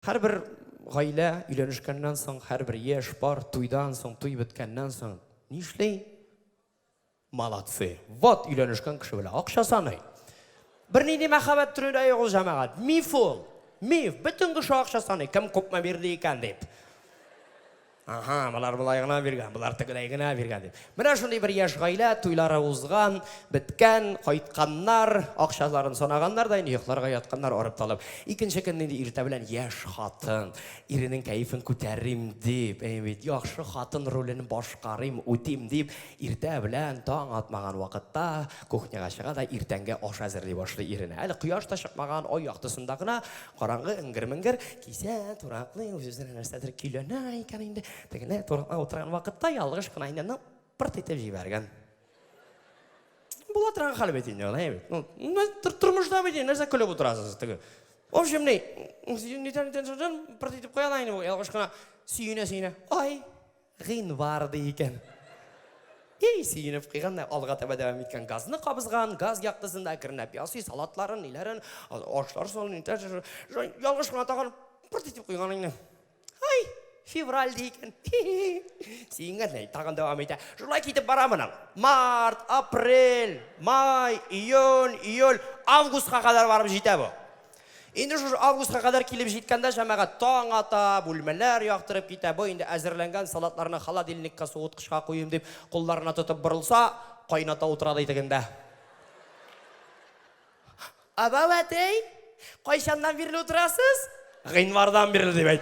Һәрбер гаилә өйләнешкәннән соң, һәрбер яшь пар туйдан соң, туй беткәннән соң нишли? Молодцы! Вот өйләнешкән кеше белә акча саный. Бернинди мәхәббәт төре дә юк ул, җәмәгать. Миф ул. Миф. Бөтен кеше акча саный, кем күпме бирде икән дип. Аһа, болар болай гына биргән, болар тегеләй генә биргән, дип. Менә шундый бер яшь гаилә, туйлары узган, беткән, кайтканнар, акчаларын санаганнар да инде йокларга ятканнар арып-талып. Икенче көнне инде иртә белән яшь хатын, иренең кәефен күтәрим дип, әйе бит, яхшы хатын ролен башкарыйм, үтим дип, иртә белән, таң атмаган вакытта кухняга чыга да иртәнге аш әзерли башлый иренә. Әле кояш та чыкмаган, ай яктысында гына Караңгы эңгер-меңгер, кисә тураклы, үз-үзенә нәрсәдер көйләнә икән инде. Тегене туракта утырган вакытта ялгыш кына инде пырт итеп җибәргән. Була торган хәл бит инде, алай бит. Ну, тормышта бит, нәрсә көлеп утырасыз теге. В общем, ни, нидән нидән пырт итеп куя да инде ялгыш кына сөенә-сөенә. Ай, Гыйнвар, ди икән. Ий, сөенеп куйган да алга таба дәвам иткән. Газны кабызган, газ яктысында әкренләп ясый, салатларын, ниләрен, ашлар салын, ялгыш кына тагын пырт итеп куйган инде. Ай, февраль ди икән. Сөенгән дә тагын дәвам итә. Шулай китеп бара моның. Март, апрель, май, июнь, июль, августка кадәр барып җитә бу. Инде шушы августка кадәр килеп җиткәндә, җәмәгать таң ата, бүлмәләр яктырып китә, бу инде әзерләнгән салатларны холодильникка, суыткычка куйыйм дип, кулларына тотып борылса, кайната утыра ди тегендә. Абау әтәй, кайчаннан бирле утырасыз? Гыйнвардан бирле, дип әйт.